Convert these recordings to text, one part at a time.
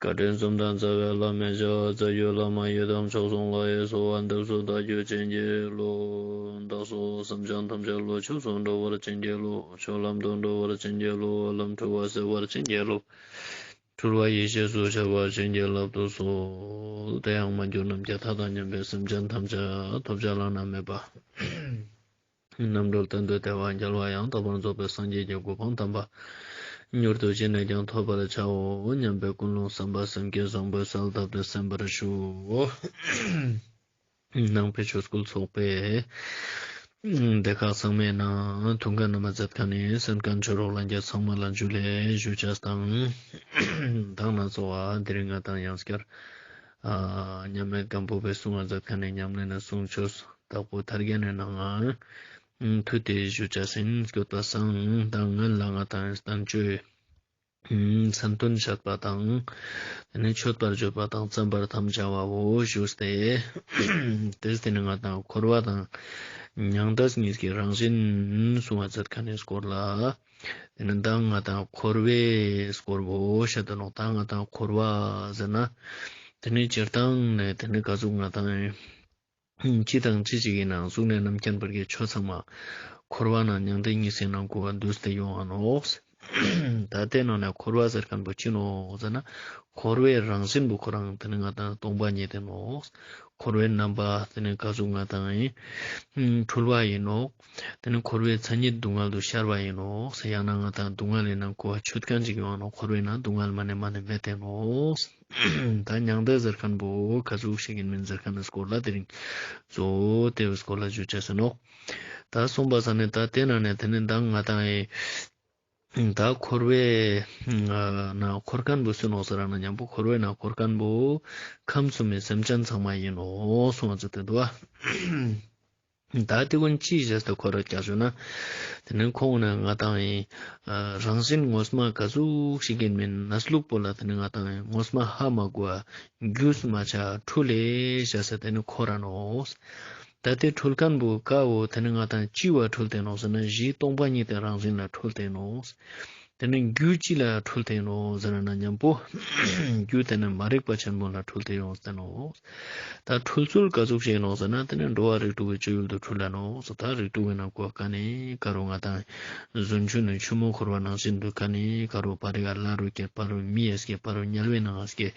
བཀའ་དྲིན་གསུམ་དང་རྩ་བའི་བླ་མའི་བྱ་བ་རྩ་རྒྱུད་བླ་མ་ཡི་དམ་མཆོག་ཟུང་ལག་གཡས་སུ་བ་འདབས་སུ་བདག་རྒྱུད་བྱིན་གྱིས་རློབས། བདག་སོགས་བསམ་བྱང་ཐམས་ཅད་ལོ་ཕྱུགས་སུ་འགྲོ་བར་བྱིན་གྱིས་རློབས། ཕྱོགས་ལམ་དུ་འགྲོ་བར་བྱིན་གྱིས་རློབས་འོག་ལམ་འཁྲུལ་བ་སེལ་བར་བྱིན་གྱིས་རློབས། འཁྲུལ་བ་ཡེ་ཤེས་སུ་བྱ་བར་བྱིན་གྱིས་རླབས་ཏུ་གསོལ། དེ་ཡང་མ་གྱུར་ནམ་མཁའི་མཐའ་དང་མཉམ་པའི་སེམས་ཅན་ཐམས་ཅད་ཐོབ་བྱ་བླ་ན་མེད་པ། རྣམ་གྲོལ་དོན་དུ་དལ་བར་མཇལ་བ་ཡང་དག་པར་རྫོགས་པའི་སངས་རྒྱས་ཀྱི་གོ་འཕང་དམ་པ། མྱུར་དུ་ཅི་ནས་ཀྱང་ཐོབ་པར་བྱའོ་སྙམ་པའི་ཀུན་སློང་བསམ་པ་སེམས་བསྐྱེད་བཟང་པོའི་གསལ་གདབ་ཏུ་གསན་པར་ཞུ། ནང་པའི་ཆོས་སྐུལ་ཚོགས་པས། སྡེ་ཁག་ཚང་མའི་ནང་དུང་དཀར་རྣམ་པ་བརྫབ་ཁ་ནས་སེམས་དཀར་མཆོད་རོགས་ལ་འགྱེད་ཚང་མ་ལ་འཇུ་ལས་ཞུ་བྱ་སྟངས། གདང་ན་ཚོགས་བ་དེ་རིང་ང་དང་ཡང་སྐྱར། མཉམ་མེད་སྐམ་པོ་པའི་གསུང་བ་འཛབ་ཁ་ནས་ཉམས་ལེན་ལ་གསུང་ཆོས་བདག་པོ་དར་རྒྱ་ནས་གནང། མཐུ་དེ་བཞུ་བཅའ་སེམས་བསྐྱོད་པ་གསང་བདག་ངོས་ལ་ང་དང་གཏམ་བརྗོད། མཚམས་སྟོན་བྱེད་པ་དང། དེ་ནས་མཆོད་པར་བརྗོད་པ་དང་བརྩམ་པར་དམ་བཅའ་བའོ་བཞུགས་ཏེ། དེ་ཟིན་ནས་ང་དང་འཁོར་བ་དང། ཉང་བྲག་གཉིས་ཀྱི་རང་བཞིན་གསུང་བ་འཛབ་ཁ་ནས་བསྐོར་ལ། དེ་ནི་ཟླ་ལྔ་དང་འཁོར་བའི་སྐོར་བུ་ཞེས་འདོད་ནོ། ཟླ་ལྔ་དང་འཁོར་བ་ཟེར་ན། དེ་ནི་སྤྱིར་བཏང་ནས་དེ་ནི་དགའ་གཟུགས་ལྔ་དང། སྤྱི་དང་སྤྱི་གཅིག་ཡིན་ན་གཟུགས་ལྔའི་རྣམ་མཁྱེན་བར་གྱི་ཆོས་ཚང་མ། འཁོར་བ་ན་མྱང་འདས་གཉིས་སེམས་རྣམ་ཀུན་བར་འདུས་ཏེ་ཡོང་བ་ནོ། ད་ལྟའི་ནང་ནས་འཁོར་བ་ཟེར་མཁན་པོ་ཅི་ནོ་ཟེར་ན། འཁོར་བའི་རང་བཞིན་བུ་ཁོ་རང་དེ་ནི་ལྔ་དང་སྟོང་པ་ཉིད་ཡིན་ནོ། འཁོར་བའི་རྣམ་པ་དེ་ནི་དགའ་གཟུགས་ལྔ་དང། འཁྲུལ་བ་ཡིན་ནོ། དེ་ནི་འཁོར་བའི་མཚན་ཉིད་སྡུག་བསྔལ་དུ་ཤར་བ་ཡིན་ནོ། ཡང་ན་ང་དང་སྡུག་བསྔལ་ཡེ་ན་སྐུ་བ་ཆོས་ཀྱང་གཅིག་ཡོང་ནོ་འཁོར་བའི་ནང་སྡུག་བསྔལ་མ་ནས་མ་ནས་འབད་དེ་ནོ། ད་མྱང་འདས་ཟེར་མཁན་པོ་ཁ་ཟུག་བྱེད་ཀྱིན་མིན་ཟེར་མཁན་ནི་སྐོར་ལ་དེ་རིང་བཟོ་དེ་བས་སྐོར་ལ་བརྗོད་བྱ་ཟིན་ནོ། ད་གསུངས་པ་ས་ནི་ད་ལྟའི་ནང་ནས་དེ་ནི་ད་ང་དང་ཨེ། ད་འཁོར་བའི་ནང་འཁོར་མཁན་པོ་སུན་ནོ་ཟེར་ར་ན་མྱང་པོ་འཁོར་བའི་ནང་འཁོར་མཁན་པོ་ཁམས་གསུམ་མའི་སེམས་ཅན་ཚང་མ་ཡིན་ནོ་སོང་ང་ཚོ་དེ་འདུག་ཨ། བདག་དེ་ཀུན་ཅིའི་ཞེས་དང་གོ་ར་རྒྱག་བྱུང་ན། དེ་ནི་ཁོང་ནི་ང་དང་ཡི། རང་བཞིན་ངོ་སྨྲ་དགའ་གཟུགས་ཤིག་གིས་མིན་ན་སུ་ལུག་པོ་ལ་དེ་ནི་ང་དང་ཡི་ངོ་སྨྲ་ཧ་མ་གོ། རྒྱུས་སུ་མ་ཆགས་འཁྲུལ་ལེ་ཞེས་ཟེར་དེ་ནི་ཁོ་རང་ནོ། བདག་དེ་འཁྲུལ་གང་བུ་གའོ་དེ་ནི་ང་དང་ཅི་བར་འཁྲུལ་བསྟན་ནོ་ཟེར་ན་གཞིའི་སྟོང་པ་ཉིད་དེ་རང་བཞིན་ལ་འཁྲུལ་བསྟན་ནོ། དེ་ནི་རྒྱུ་གཅིག་ལ་འཁྲུལ་དེ་ཡིན་ནོ་ཟེར་བས་ན་མཉམ་པོ་རྒྱུ་དེ་ནི་མ་རིག་པ་ཆེན་པོ་ལ་འཁྲུལ་དེ་ཡོངས་སུ་བསྟན་ནོ། ད་འཁྲུལ་ཚུལ་ག་ཚུགས་ཤེས་ཡིན་ནོ་ཟེར་ན་དེ་ནི་འགྲོ་བ་རིགས་དྲུག་གི་སྤྱོད་ཡུལ་དུ་འཁྲུལ་ལ་ནོ་ཟེར་ད་རིགས་དྲུག་གི་ནང་གོ་ག་ནི་ཀ་རུ་ང་དང། བཟུང་ཆུ་ནི་ཆུ་མོ་འཁོར་བ་ནང་བཞིན་དུ་ཀ་ནི་ཀ་རུ་བ་རི་ཀ་ལ་རུ་ཀའི་བ་རུ་མི་ཡས་ཀའི་བ་རུ་དམྱལ་བའི་ནང་ཨས་ཀའི་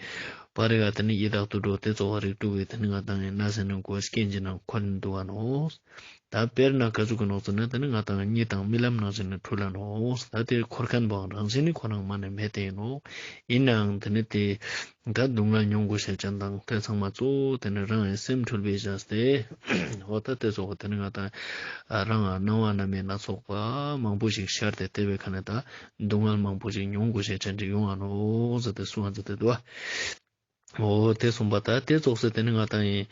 བ་རི་ཀ་དེ་ནི་ཡི་དྭགས་དུ་འགྲོ་སྟེ་རྩོལ་བ་རིགས་དྲུག་གི་དེ་ནི་ང་དང་ཡིན་ན་ཟེར་ནས་གོ་ཨས་ཀའི་འཇིག་ན་འཁོར་ནི་འདུ་བ་ནོ། ད་དཔེར་ན་ཀ་ཅུག་གི་ནགས་ཚལ་ནི་དེ་ནི་ང་དང་གཉིས་དང་རྨི་ལམ་ནང་བཞིན་ནི་འཁྲུལ་ལ་ནོ། ད་དེར་འཁོར་མཁན་པའང་རང་བཞིན་ནི་ཁོ་ནང་མ་ནས་མེད་དེ་ཡིན་ནོ། ཡིན་ནའང་དེ་ནི་དེས་ད་སྡུག་བསྔལ་མྱོང་དགོས་ཤེས་བྱ་དང་དེ་ཚང་མ་གཙོ་བོ་དེ་ནི་རང་ཡིན་སེམས་འཁྲུལ་པའི་གཞག་སྟེ། འོ་ད་དེ་ཚོགས་པ་དེ་ནི་ང་དང་རང་ཨ་སྣང་བ་རྣམ་སྨིན་སྣ་ཚོགས་པ་མང་པོ་ཞིག་ཤར་ཏེ་དེ་བས་ཁ་ནས་ད་སྡུག་བསྔལ་མང་པོ་ཞིག་མྱོང་དགོས་ཤེས་བྱ་འདྲི་ཡོང་ཨ་ནོ་ཟེར་ཏེ་སུའང་ཙི་ཏི་ཏུ་ཨ། ཨོ། དེ་གསུངས་པ་ལྟར་དེ་རྫོགས་ཟེར་དེ་ནི་ང་དང་ཡིན།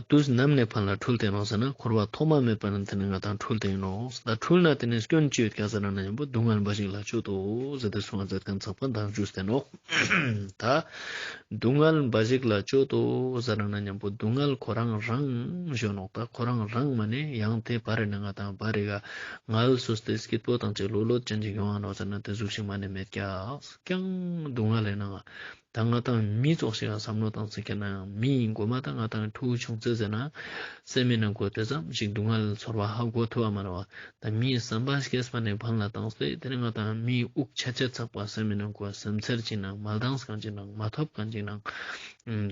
དུས་ནམ་ནས་ཕར་ན་འཁྲུལ་དེ་ནོ་ཟེར་ན་འཁོར་བ་ཐོག་མ་མེད་པ་ནས་དེ་ནི་ང་དང་འཁྲུལ་དེ་ཡིན་ནོ། ད་འཁྲུལ་ན་དེ་ནི་སྐྱོན་བཅུའི་སྐྱ་ས་རང་ན་ཡིན་པོ་སྡུག་བསྔལ་འབའ་ཞིག་ལ་སྤྱོད་དོ་ཟེར་དེ་གསུངས་པ་མཛད་དོན་ཚངས་པ་མདངས་བཅུ་ཟེར་ནོ། ད། སྡུག་བསྔལ་འབའ་ཞིག་ལ་སྤྱོད་དོ་ཟེར་རང་ན་ཡིན་པོ་སྡུག་བསྔལ་ཁོ་རང་རང་གཞོན་ནོ་ད་ཁོ་རང་རང་མ་ནི་ཡང་དེ་བར་རེ་ན་ང་དང་བར་རེ་ག་ངལ་སོས་ཏེ་སྐྱིད་པོ་དང་བཅས་ལོ་ལོ་ཅན་གྱི་གཞོན་ཡང་ནོ་ཟེར་ན་དེ་གཟུགས་ཤིང་མ་ནི་མེད་ཀྱང་སྡུག་བསྔལ་རེ་ན། ད་ང་དང་མི་ཚོགས་ཤིག་ལ་བསམ་བློ་བཏང་ཟེར་གྱི་ན་ཡང་མི་ཡིན་དགོས་མ་ད་ང་དང་ཐུག་བྱུང་ཚེ་ཟེར་ན་སེམས་མེད་ན་དགོས་དེ་ཙམ་ཞིག་སྡུག་བསྔལ་ཚོར་བ་ཧ་གོ་ཐུབ་པ་མ་རེད་བ་ད་མིའི་བསམ་པ་ཤེས་པ་ནས་བང་ལ་བཏང་ཚེ་དེར་ང་དང་མིའི་དབུགས་ཆ་ཆ་ཚགས་པ་སེམས་མེད་ན་དགོས་སེམས་ཚེར་གཅིག་ནང་མ་ལྡངས་གང་ཅིག་ནང་མ་ཐོབ་གང་ཅིག་ནང་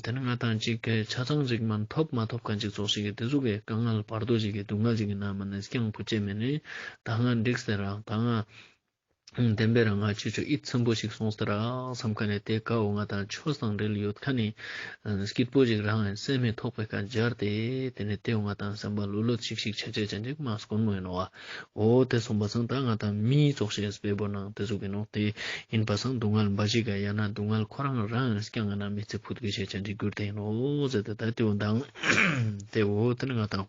དེར་ང་དང་གཅིག་གི་ཆ་ཚང་ཅིག་མ་ཐོབ་མ་ཐོབ་གང་ཅིག་ཚོགས་ཤིག་གི་དེ་ཚོ་གི་དཀའ་ངལ་བར་དོ་ཅིག་གི་སྡུག་བསྔལ་ཅིག་གི་ན་མ་ནས་སྐྱང་བུ་བཅད་མེད་ནས་ད་ང་འགྲིག་ཟེར་རང་ད་ང། བདེན་པའི་རང་སྔགས་ཆེ་ཆུང་ཨི་ཚིམ་པོ་ཞིག་སོང་ཟེར་རགས་བསམ་ཁ་ནས་དེ་ཀ་འོ་ང་དང་ཆོས་བཟང་འབྲེལ་ཡོད་ཁ་ནས་སྐྱིད་པོ་ཞིག་རང་ཡང་སེམས་མི་ཐོག་པའི་ཁ་སྦྱར་ཏེ་དེ་ནས་དེ་འོ་ང་དང་སེམས་པ་ལུད་ལུད་ཅིག་ཞིག་བྱས་བྱས་བྱས་འཇིགས་མ་སྐོར་མོ་ཡིན་ནོ་བ་འོ་དེ་སོང་བ་སང་ད་ང་དང་མི་ཚོགས་ཤེས་སྤེལ་པོ་གནང་དེ་ཟུག་གི་ནོ་དེ་ཡིན་པ་སང་སྡུག་བསྔལ་འབའ་ཞིག་ག་ཡང་ན་སྡུག་བསྔལ་ཁོ་རང་རང་ཡང་སྐྱང་ང་ན་མི་ཚེ་ཕུད་དགོས་བྱས་བྱས་འཇིགས་གྱུར་དེ་ཡིན་ནོ་ཟེར་ཏེ་ད་དེ་འོ་མདང་དེ་འོ་དེ་ནས་ང་དང།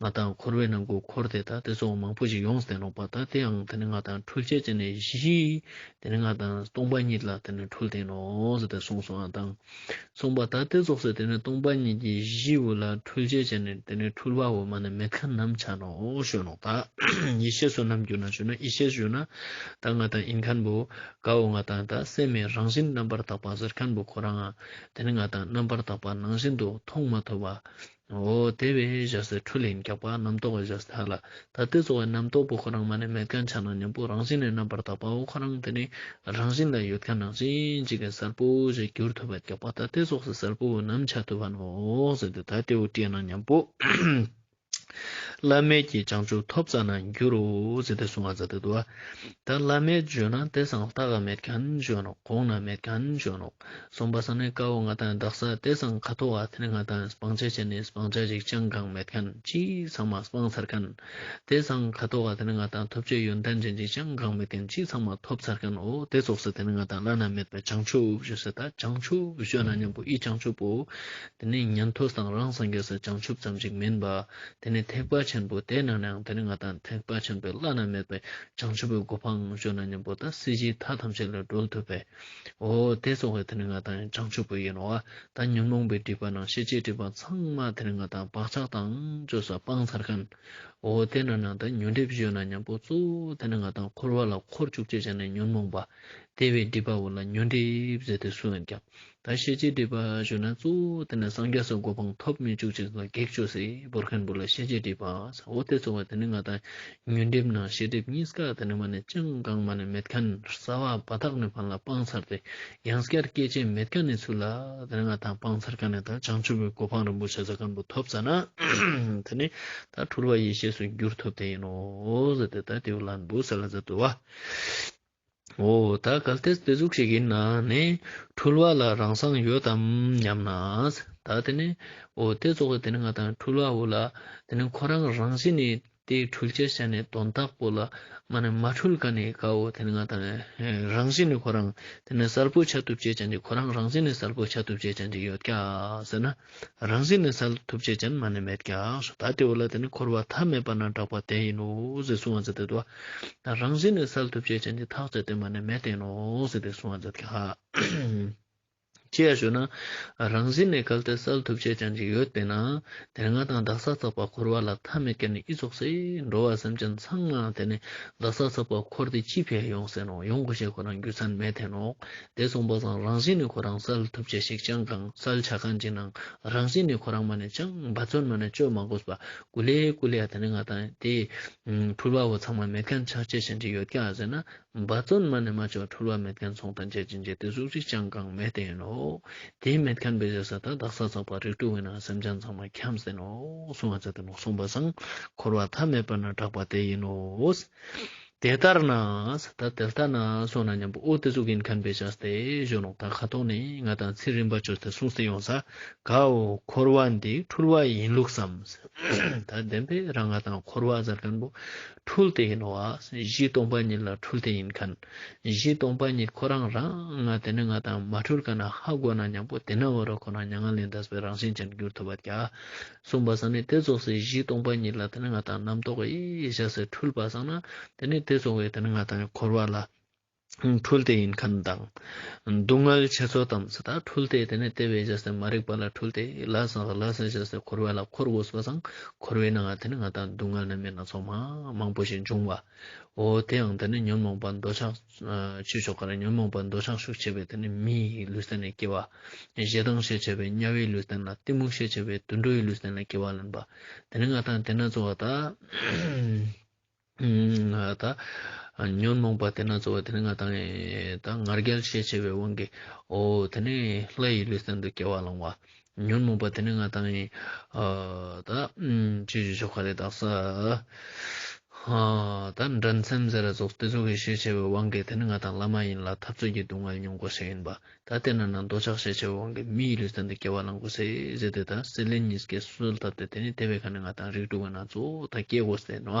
ང་དང་འཁོར་བའི་ནང་གི་འཁོར་དེ་དག་དེ་ཚོ་མང་པོ་ཞིག་ཡོངས་སུ་བསྟན་རུང་བ་དག་དེའང་དེ་ནི་ང་དང་འཁྲུལ་བཅས་བྱས་ནས་བཞི། དེ་ནི་ང་དང་སྟོང་པ་ཉིད་ལ་དེ་ནི་འཁྲུལ་བསྟན་ནོ། ཞེས་དེ་གསུངས་སོ། དང། གསུངས་པ་དག་དེ་རྫོགས་སའི་དེ་ནི་སྟོང་པ་ཉིད་ཀྱི་གཞི་བོ་ལ་འཁྲུལ་བཅས་བྱས་ནས་དེ་ནི་འཁྲུལ་བ་འོག་མ་ནི་མི་ཁ་ནམ་བྱ་ནོ། ཞོ་ནོ། དག། ཡེ་ཤེས་སུ་ནམ་གྱུར་ན་ཞུ་ན་ཡེ་ཤེས་སུ་ཞུ་ན། དག་ང་དང་ཨིན་ཁན་བུ། གའ་འོ་ང་དང་དག་སེམས་མའི་རང་བཞིན་རྣམ་པར་དག་པ་གཟེར་ཁན་བུ་ཁོ་རང། དེ་ནི་ང་དང་རྣམ་པར་དག་པ་ནང་བཞིན་དུ་མཐོང་མ་ཐོས་པ། ངོ་བོ་དེ་བས་བཞག་སའི་འཕྲུལ་ལས་འགགས་པ་རྣམ་རྟོག་བས་བཞག་སའི་དག་ལ་ད་ལྟའི་རྩོལ་བའི་རྣམ་རྟོག་པོ་ཁོ་རང་མ་ནས་མེད་དཀའ་ཆགས་སྣང་སྙོམས་པོ་རང་བཞིན་ལས་རྣམ་པར་དག་པའོ་ཁོ་རང་དེ་ནི་རང་བཞིན་ལ་ཡོད་དཀའ་ནང་བཞིན་གཅིག་གིས་གསལ་པོ་ཞེས་བསྒྱུར་ཐུབ་པ་འགགས་པ་ད་ལྟའི་སོགས་སུ་གསལ་པོ་བོ་ནམ་འཆར་ཐུབ་པ་ནོ་ཟེར་ཏེ་ད་ལྟའི་དབུ་སྐྲའི་སྣང་སྙོམས་པོ་བླ་མེད་ཀྱི་བྱང་ཆུབ་ཐོབ་ས་ན་འགྱུར་རོ་ཟེར་ཏེ་གཟུང་བ་ཛཱ་ཏི་དུ་བ་ད་བླ་མེད་བརྗོད་ན་དེ་སངས་རྟགས་མེད་ཀྱང་བྱོན་ནོ་གོང་ན་མེད་ཀྱང་བྱོན་ནོ། སོང་པ་ས་ནི་དཀར་བོ་ང་དང་བདག་ས་དེ་སང་ཁ་ཐོ་བ་དེ་ང་དང་སྤང་བྱ་བྱས་ནས་སྤང་བྱ་ཞིག་ཅང་གང་མེད་གན་ཅི་ཚང་མ་སྤང་ཚར་གན། དེ་སང་ཁ་ཐོ་བ་དེ་ང་དང་ཐོབ་བྱའི་ཡོན་ཏན་ཅན་ཅིག་ཅང་གང་མེད་གན་ཅི་ཚང་མ་ཐོབ་ཚར་གན་འོ་དེ་ཚོགས་ས་དེ་ང་དང་བླ་ན་མེད་པའི་བྱང་ཆུབ་བཞུགས་ས་ད་བྱང་ཆུབ་བཞུགས་ན་སྙམ་པོ་ཨི་བྱང་ཆུབ་པོ་དེ་ནི་ཉན་ཐོས་དང་རང་སངས་རྒྱས་སུ་བྱང་ཆུབ་ཙམ་ཞིག་མིན་པ་དེ་ནི་ཐེག་པ་ཆེན་པོ་དེ་ནང་ནའང་དེ་ནི་ང་དང་ཐེག་པ་ཆེན་པོའི་བླ་ན་མེད་པའི་བྱང་ཆུབ་པོའི་གོ་འཕང་བཞུགས་ན་སྙམ་པོ་ད་སྲིད་ཞིའི་མཐའ་ཐམས་ཅད་ལས་སྒྲོལ་ཐུབ་པའི། འོ་དེ་གཙོ་བོ་དེ་ནི་ང་དང་བྱང་ཆུབ་བུ་ཡིན་ནོ། ད་ཉོན་མོངས་པའི་སྒྲིབ་པ་རྣམས་ཤེས་བྱའི་སྒྲིབ་པ་ཚང་མ་དེ་ནི་ང་དང་བག་ཆགས་དང་བཅས་སོ་སྤང་ཚར་གང། འོ་དེ་ན་ནང་དུ་ཉོན་སྒྲིབ་བཞོན་ན་མཉམ་པོ་གཙོ་བོ་དེ་ནི་ང་དང་འཁོར་བ་ལ་འཁོར་བཅུ་གཅིག་ཅན་ནི་ཉོན་མོངས་པ་དེ་བས་སྒྲིབ་པའོ་ལ་ཉོན་སྒྲིབ་ཟེར་ཏེ་སུའང་ཀྱང། ད་ཤེས་བྱའི་སྒྲིབ་པ་བཞོན་ན་གཙོ་བོ་དེ་ནི་སངས་རྒྱས་སུ་གོ་འཕང་ཐོབ་མི་བཅུ་གཅིག་ལ་བགེགས་བཅུ་སེར་པོར་ཁེངས་པོ་ལ་ཤེས་བྱའི་སྒྲིབ་པ་འོ་དེ་གཙོ་བོ་དེ་ནི་ང་དང་ཉོན་སྒྲིབ་ནང་ཤེས་སྒྲིབ་གཉིས་སྐག་དེ་ནི་མ་ནས་སྤྱང་སྐག་མ་ནས་མེད་ཁ་ནས་ས་བ་བ་ཐག་ནས་བར་ལ་སྤང་ཚར་ཏེ་ཡང་སྐར་སྐད་ཅན་མེད་ཁ་ནས་ཚུར་ལ་དེ་ནི་ང་ཐང་སྤང་ཚར་ཁ་ནས་ད་བྱང་ཆུབ་པའི་གོ་འཕང་རིན་པོ་ཆེ་ས་སྐམ་པོ་ཐོབ་ཚར་ན་དེ་ནི་ད་དྷྲུར་བ་ཡེ་ཤེས་སུ་འགྱུར་ཐུབ་དེ་ཡིན་ནོ། དེ་ལྟར་དེའུ་ལ་འབུ་ས་ལ་ཛ་དུ་བ། འོ་ད་ག་ལྟའི་རྩེ་གཟུགས་ཤིག་ཡིན་ན་ནི་འཁྲུལ་བ་ལ་རང་སངས་ཡོད་དམ་སྙམ་ན། ད་དེ་ནི་འོ་དེ་རྫོགས་པའི་དེ་ནི་ང་དང་འཁྲུལ་བ་འོ་ལ་དེ་ནི་ཁོ་རང་རང་བཞིན་ནི་དེ་འཁྲུལ་བྱེད་ཤ་ནི་དོན་དག་པོ་ལ་མ་ནི་མ་འཁྲུལ་ག་ནི་གའོ་དེ་ནི་ང་དང་རང་བཞིན་ནི་ཁོ་རང་དེ་ནི་གསལ་པོ་བྱ་ཐུབ་བྱེད་ཅན་དེ་ཁོ་རང་རང་བཞིན་ནི་གསལ་པོ་བྱ་ཐུབ་བྱེད་ཅན་དེ་ཡོད་ཀྱ་ཟེར་ན། རང་བཞིན་ནི་ས་ལ་ཐུབ་ཅེས་ཅན་མ་ནི་མེད་ཀྱང་སོ་ད་དེའོ་ལ་དེ་ནི་འཁོར་བ་མཐའ་མེད་པ་ན་གྲགས་པ་དེ་ཡིན་ནོ་ཞེས་གསུང་བ་མཛད་དེ་དུ་བ་རང་བཞིན་ནི་ས་ལ་ཐུབ་ཅེས་ཅན་གྱི་ཐག་བཅད་དེ་མ་ནི་མེད་དེ་ཡིན་ནོ་ཞེས་དེ་གསུང་བ་མཛད་དེ། ཅི་ཡང་ཞུ་ན་རང་བཞིན་ནི་གལ་ཏེ་ས་ལ་ཐུབ་ཅེས་ཅན་གྱི་ཡོད་པས་ན་དེར་ང་དང་བདག་ས་ཚགས་པར་འཁོར་བ་ལ་མཐའ་མེད་ཀྱི་ནི་ཨི་རྫོགས་སེ་འགྲོ་བ་སེམས་ཅན་ཚང་མ་དེ་ནི་བདག་ས་ཚགས་པར་འཁོར་ཏེ་ཅི་ཕེ་ཡོང་ཟེར་ནོ་ཡོང་གོ་ཞེས་ཁོ་རང་རྒྱུད་ཚང་མས་འཐེན་ནོ་དེ་གསུངས་པ་བཟང་རང་བཞིན་ནི་ཁོ་རང་གསལ་ཐུབ་བྱེད་ཞིག་ཅང་གང་གསལ་བྱ་གང་ཅི་གནང་རང་བཞིན་ནི་ཁོ་རང་མ་ནས་ཅང་འབའ་བརྩོན་མ་ནས་སྤྱོད་མ་གོས་པ་ཀུ་ལེ་ཀུ་ལེ་ཡ་དེ་ནི་ང་དང་དེས་འཁྲུལ་བ་བོ་ཚང་མ་མེད་མཁན་ཆགས་བྱེད་བཞིན་གྱི་ཡོད་ཀྱ་ཟེར་ན་འབའ་བརྩོན་མ་ནས་མ་བྱོས་འཁྲུལ་བ་མེད་མཁན་ཚོང་དང་བྱེད་ཅིང་བྱེད་དེ་གཟུགས་རིས་ཅང་གང་མེད་དེ་ཡིན་ནོ། དེ་མེད་མཁན་བི་ཟས་ས་ད་དག་ས་ཚགས་པ་རིགས་དྲུག་མེད་ན་སེམས་ཅན་ཚང་མ་འཁྱམས་ཟིན་ནོ་གསུངས་བ་ཚད་དུ་ནོག་གསུངས་པ་བཟང་འཁོར་བ་ཐ་མལ་པ་ན་གྲགས་པ་དེ་ཡིན་ནོ། དེ་ལྟར་ན་ད་དེ་ལྟ་ན་སོང་ན་སྙམ་པའོ་ཨོ་ཏི་གཟུགས་ཀྱི་མཁན་པོས་བྱས་ཏེ་གཞོན་ནུ་དག་ཁ་དོག་ནི་ང་དང་ཚེ་རིང་པ་ཆོས་ཚེ་གསུང་སྲིད་ཡོངས་ས་གའོ་འཁོར་བ་འདི་འཁྲུལ་བ་ཡིན་ལུགས་སམ། ད་བདེན་པས་རང་ང་དང་འཁོར་བ་ཟེར་མཁན་པོ་འཁྲུལ་དེ་ཡིན་ནོ། གཞི་སྟོང་པ་ཉིད་ལ་འཁྲུལ་དེ་ཡིན་མཁན། གཞི་སྟོང་པ་ཉིད་ཁོ་རང་རང་དེ་ནི་ང་དང་མ་འཁྲུལ་ག་ན་ཧ་གོ་ན་སྙམ་པའོ་དེ་ན་བ་རོ་ཁོ་ན་མྱ་ངན་ལས་འདས་པའི་རང་བཞིན་ཅན་གྱུར་ཐུབ་པ་དགའ། གསུངས་པ་བསམ་ནས་དེ་རྫོགས་སའི་གཞི་སྟོང་པ་ཉིད་ལ་དེ་ནི་ང་དང་རྣམ་རྟོག་གི་བཞག་སའི་འཁྲུལ་པ་བསགས་ན་དེ་ནི་དེ་རྫོགས་བས་དེ་ནི་ང་དང་འཁོར་བ་ལ་འཁྲུལ་ཏེ་ཡིན་ཁམས་དང། སྡུག་བསྔལ་ཆེ་ཚོགས་དང་ཚེ་དང་འཁྲུལ་ཏེ་དེ་ནི་ལྟེ་བའི་བཞག་སའི་མ་རིག་པ་ལ་འཁྲུལ་ཏེ་ལ་བསགས་ལ་སའི་བཞག་སའི་འཁོར་བ་ལ་འཁོར་དགོས་སོ་བསང་འཁོར་བས་ནའང་དེ་ནི་ང་དང་སྡུག་བསྔལ་རྣམ་སྨིན་སྣ་ཚོགས་མང་པོ་ཞིག་འབྱུང་བའོ་དེའང་དེ་ནི་ཉོན་མོངས་པ་འདོད་ཆགས། ཆོས་ཕྱོགས་ཀར་ཉོན་མོངས་པ་འདོད་ཆགས་ཤུགས་ཆེ་བས་དེ་ནི་མིའི་ལུས་རྩལ་ནས་སྐྱེ་བ། ཞེ་སྡང་ཤས་ཆེ་བས་དམྱལ་བའི་ལུས་རྩལ་ན་གཏི་མུག་ཤས་ཆེ་བས་དུད་འགྲོའི་ལུས་རྩལ་ན་སྐྱེ་བ་ལེན་པ། དེ་ནི་མངའ་ཐང་དེ་ན་རྩོལ་བ་དག། ཉོན་མོངས་པ་དེ་ན་རྩོལ་བ་དེ་ནི་མངའ་ཐང་ཡིན། ངར་སྐད་ཤས་ཆེ་བའི་དབང་གིས་འོ། དེ་ནི་ལྷ་ཡི་ལུས་རྩལ་དུ་སྐྱེ་བ་བླང་བ། ཉོན་མོངས་པ་དེ་ནི་ང་དང་ཡིན། ད་ཅི་ཞིག་ཆོ་ག་རེད་བརྟགས་ས། ད་འདྲ་མཚམས་ཟེར་རྫོགས་སྟེ་རྫོགས་ཀྱི་ཤེས་བྱ་བའི་དབང་གིས་དེ་ནི་ང་དང་བླ་མ་ཡིན་ལ་འཐབ་རྩོད་ཀྱི་སྡུག་བསྔལ་མྱོང་དགོས་ཤིག་ཡིན་པ། ད་དེ་ན་ན་འདོད་ཆགས་ཤེས་བྱ་བའི་དབང་གིས་མི་ཡི་ལུས་རྩལ་འདི་སྐྱེ་བ་བླང་དགོས་ཟེ་ཟེ་དེ་ད་སེ་ལེ་ཉིས་ཀྱི་སུལ་ཐབས་ཏེ་དེ་ནི་དེ་བས་ཁ་ནས་ང་དང་རིགས་དྲུག་གི་ན་ཚོད་ད་སྐྱེ་དགོས་ཟེ་ནོ།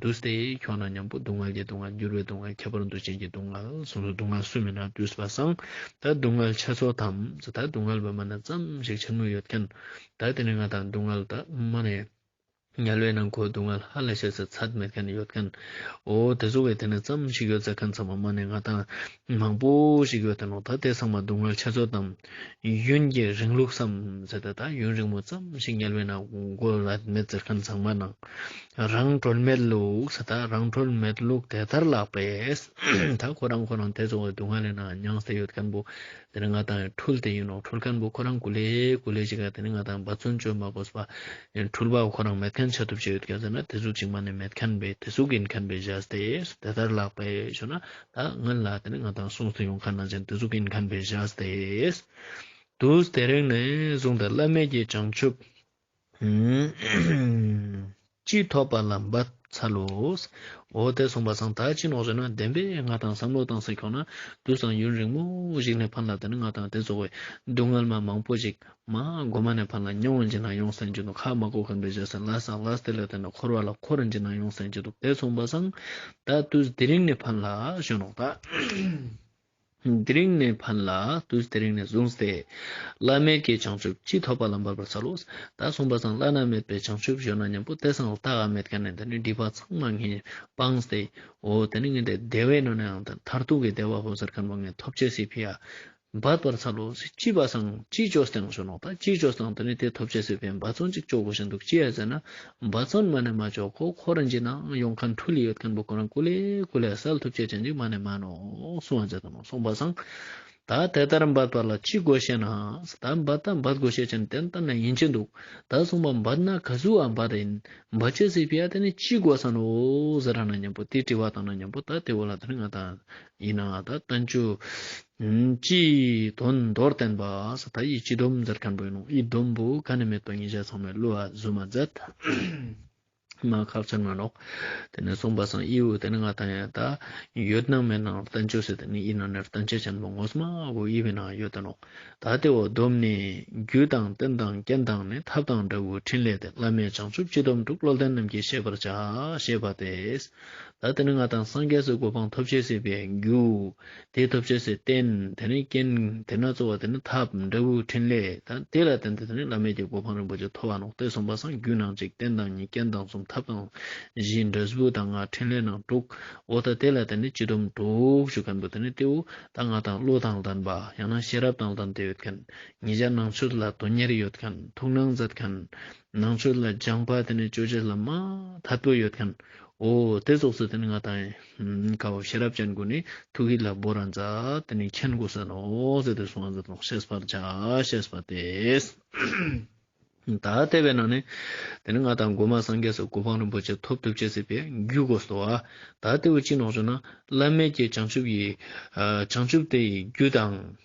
འདུ་སྟེ་ཁྱོགས་ན་མཉམ་པོ་སྡུག་བསྔལ་གྱི་སྡུག་བསྔལ་འགྱུར་བའི་སྡུག་བསྔལ་ཁྱད་པར་འདུ་བྱེད་ཀྱི་སྡུག་བསྔལ་སོ་སོའི་སྡུག་བསྔལ་སུ་མེད་ན་དུས་ལ་སངས་ད་སྡུག་བསྔལ་ཆ་ཚོགས་དམ་ད་སྡུག་བསྔལ་བ་མ་ན་ཙམ་ཞིག་འཆར་མུས་ཡོད་མཁན་ད་དེ་ནས་ང་དང་སྡུག་བསྔལ་ད་མ་ནས་ཉལ་བའི་ནང་ཁོའི་སྡུག་བསྔལ་ཧ་ལས་བྱས་ཚེ་ཚད་མེད་མཁན་ཡོད་མཁན་འོ་དེ་ཚོ་བས་དེ་ནས་ཙམ་ཞིག་ཡོད་ཟེར་མཁན་ཚང་མ་མ་ནས་ང་དང་མང་པོ་ཞིག་ཡོད་དོ་ལགས་ད་དེ་ཚང་མ་སྡུག་བསྔལ་ཆེ་ཚོད་དང་ཡུན་གྱི་རིང་ལུགས་སམ་ཟེར་ཏེ་ད་ཡུན་རིང་མོ་ཙམ་ཞིག་ཉལ་བའི་ནང་སྒོ་ལ་མེ་བཙིར་མཁན་ཚང་མ་ནང་རང་གྲོལ་མེད་ལུགས་ཟེར་ད་རང་གྲོལ་མེད་ལུགས་དེ་ལྟར་ལགས་པས་ད་ཁོ་རང་ཁོ་རང་དེ་ཚོ་སྡུག་བསྔལ་ལས་ན་མྱང་སེ་ཡོད་མཁན་པོ་དེ་ནི་ང་དང་འཁྲུལ་དེ་ཡིན་ནོ་འཁྲུལ་མཁན་པོ་ཁོ་རང་གུ་ལེ་གུ་ལེ་ཅིག་ག་དེ་ནི་ང་དང་འབའ་ཚུན་བཅོས་མ་གོ་ས་པ་འཁྲུལ་པ་ཁོ་རང་མེད་མཁན་བྱ་ཐུབ་ཅིག་ཡོད་མཁན་ཟེར་ན་དེ་གཟུགས་ཅིག་མ་ནི་མེད་མཁན་པས་དེ་གཟུགས་ཡིན་མཁན་པས་བཞག་སྟེ་ཟེར་ད་ལྟར་ལགས་པས་ཞོ་ན་ད་ང་ལ་དེ་ནི་ང་དང་གསུང་དུ་ཡོང་ཁ་ནང་ཅན་དུས་གཟུགས་ཀྱི་མཁན་པོའི་ཞག་སྟེས། དུས་དེ་རིང་ནས་བཟུང་སྟེ་བླ་མེད་ཀྱི་བྱང་ཆུབ། ཅིག་ཐོབ་པ་ལ་འབབ་ཚར་ལོ། འོ་དེ་སོང་བ་སང་ད་ཕྱིན་ནོག་ཟེར་ན་བདེན་པས་ང་དང་བསམ་བློ་བཏང་ཟེར་ཁྱོག་ན་དུས་སང་ཡུན་རིང་མོ་ཞིག་ནས་ཕར་ལ་དེ་ནི་ང་དང་དེ་ཚོ་བས་སྡུག་བསྔལ་མ་མང་པོ་ཞིག་མ་སྒོ་མ་ནས་ཕར་ལ་མྱ་འོངས་ཇི་སྣང་ཡོངས་སེམས་ཅན་དུ་ཁ་མ་དགོ་གམ་བདེ་བྱེད་སེམས་ལ་སངས་ལ་སྟེ་ལས་དེ་ནས་འཁོར་བ་ལ་འཁོར་རིན་ཇི་སྣང་ཡོངས་སེམས་ཅན་དུ་དེ་མཚུངས་པ་སངས་ད་ཏུས་དེ་རིང་ནས་ཕར་ལ་གཞོན་ནུ་ད་དེ་རིང་ནས་ཕར་ལ་ཏུས་དེ་རིང་ནས་བཟུང་སྟེ། བླ་མེད་ཀྱི་བྱང་ཆུབ་ཅི་ཐོབ་པ་ལ་འབར་བར་འཚལ་ལོ། ད་གསུངས་པ་སངས་བླ་ན་མེད་པའི་བྱང་ཆུབ་གཞོན་ན་མཉམ་པོ་དེ་སངས་ལ་ཏཱ་ག་མེད་ཀ་ནས་འདི་ནས་སྒྲིབ་པ་ཚང་མ་ངས་སྤངས་ཏེ་འོ་དེ་ནས་ངས་འདི་བདེ་བའི་སྣོད་ནའང་མཐར་ཐུག་གི་བདེ་བ་ཧོ་ཟེར་ཁན་པ་ངས་ཐོབ་བྱས་སྲིད་ཕི་ཡ། འབར་བར་འཚལ་ལོ། སྐྱིད་པ་སངས་སྐྱིད་ཅོ་སྟེང་ཞོ་ནོག་ད་སྐྱིད་ཅོ་སྟེང་དུ་ནི་དེ་ཐོབ་བྱས་ཟོས་པས་འབའ་ཚོང་ཅིག་ཅོག་གོ་ཞིག་འདུག་ཅི་ཡ་ཟེར་ན་འབའ་ཚོང་མ་ནི་མ་ཅོག་གོ་ཁོ་རང་གྱི་ན་ཡོང་ཁ་འཁྲུ་ལི་ཡོད་མཁན་པོ་ཁོ་རང་ཀུ་ལེ་ཀུ་ལེ་སལ་ཐུབ་བྱས་ཅན་ཅིག་མ་ནི་མ་ནོ་སུ་འང་བྱས་དུ་ནོ་སོང་འབའ་སངས་ད་དེ་ལྟར་འབར་བར་ལ་ཅིག་དགོས་བཤད་ན་ད་འབར་ད་འབར་དགོས་བཤད་ཅན་དེ་ལྟར་ན་ཡིན་གྱི་འདུག་ད་སོང་འབར་འབར་ན་ག་སུ་འང་འབར་རེད་ཡིན་འབར་བྱས་ཟོས་པས་ཡ་དེ་ནི་ཅིག་དགོས་ས་ནོ་ཟེར་ར་ན་མཉམ་པོ་དེ་དྲི་བ་དང་ན་མཉམ་པོ་ད་དེ་བོ་ལ་དེ་ནི་ང་ད་ཡིན་ན་ད་ལྟ་མཆོད་སྤྱི་དོན་མདོར་བསྟན་པ་སོགས་ད་ཡིད་སྤྱི་སྡོམ་མཛད་མཁན་པོའི་ནང་ཡིད་སྡོམ་པོ་ག་ནས་མེད་པ་ངེད་ཅག་ཚང་མས་བསླུ་བ་བཟོས་མ་མཛད། མ་ཁག་ཅིག་ནང་ལོག་དེ་ནས་གསུངས་པ་སང་དབྱི་བོ་དེ་ནི་ང་དང་ཡང་ད་ཡོད་སྣང་མེད་སྣང་བསྟན་བཅོས་ཟེར་དེ་ནི་དབྱི་ནང་ནས་བསྟན་བཅོས་ཅན་པོ་ངོ་སྨ་བོ་དབྱི་བོའི་ནང་ཡོད་དོ་ནོ་ད་དེ་འོག་སྡོམ་ནི་རྒྱུད་དང་རྟེན་དང་རྐྱེན་དང་ནི་ཐབས་དང་འབྲས་བུའི་ཕྲིན་ལས་དེ་བླ་མེད་བྱང་ཆུབ་སྤྱི་སྡོམ་དྲུག་བློ་ལྡན་རྣམས་ཀྱིས་ཤེས་པར་བྱ་ཞེས་པ་དེས། ལ། དེ་ནི་སྔགས་དང་སངས་རྒྱས་སུ་གོ་འཕང་ཐོབ་བྱེད་སྲིད་པའི་རྒྱུ། དེའི་ཐོབ་བྱེད་སའི་རྟེན་དེ་ནི་རྐྱེན། དེས་ན་རྩོལ་བ་དེ་ནི་ཐབས་འབྲས་བུའི་ཕྲིན་ལས་དང་དེ་ལ་བརྟེན་ཏེ་དེ་ནི་བླ་མེད་ཀྱི་གོ་འཕང་རིན་པོ་ཆེ་ཐོབ་པ་ནོག་སྟེ་གསུམ་པ་སངས་རྒྱུའི་ནང་གཅིག་རྟེན་དང་གཉིས་རྐྱེན་དང་གསུམ་ཐབས་དང་བཞི་འབྲས་བུ་དང་ལྔ་ཕྲིན་ལས་ནང་དྲུག་འོག་དང་དེ་ལ་བརྟེན་ནས་སྤྱི་སྡོམ་དྲུག་ཞུ་མཁན་པོ་དེ་ནི་སྟེའུ་དང་ལྔ་དང་ཀླུ་དང་ལྡན་པ་ཡང་ན་ཤེས་རབ་དང་ལྡན་དེ་ཡོད་མཁན་ཉིས་བརྒྱ་ནང་ཆོས་ལ་དོན་གཉེར་ཡོད་མཁན་ཐུགས་སྣང་མཛད་མཁན་ནང་ཆོས་ལ་སྦྱངས་པ་དེ་ནི་བཅོས་བྱེད་ལ་མ་དར་པོ་ཡོད་མཁན། འོ་དེ་སོགས་སུ་དེ་ནི་ང་དང། ཀའོ་ཤེས་རབ་ཅན་ཀུན་ནི་ཐུགས་ཡིད་ལ་སྦོ་ར་མཛའ་དེ་ནི་མཁྱེན་དགོས་ཟེར་ནོ་ཟེར་ཏེ་གསུངས་ཟེར་ཏོ་ཤེས་པར་བྱ་ཞེས་པ་སྟེ། ད་ལྟ་བའི་ནང་ནས་དེ་ནི་ང་དང་སྒོ་མ་སངས་རྒྱས་སོགས་གོ་འཕང་རིན་པོ་ཆེ་ཐོབ་ཐུབ་བྱེད་སྲིད་པས་རྒྱུད་གོ་སོ། ད་ལྟེའུ་གཅིག་ནོག་བྱུང་ན་བླ་མེད་ཀྱི་བྱང་ཆུབ་ཡི། བྱང་ཆུབ་དེ་ཡི་རྒྱུད་དང།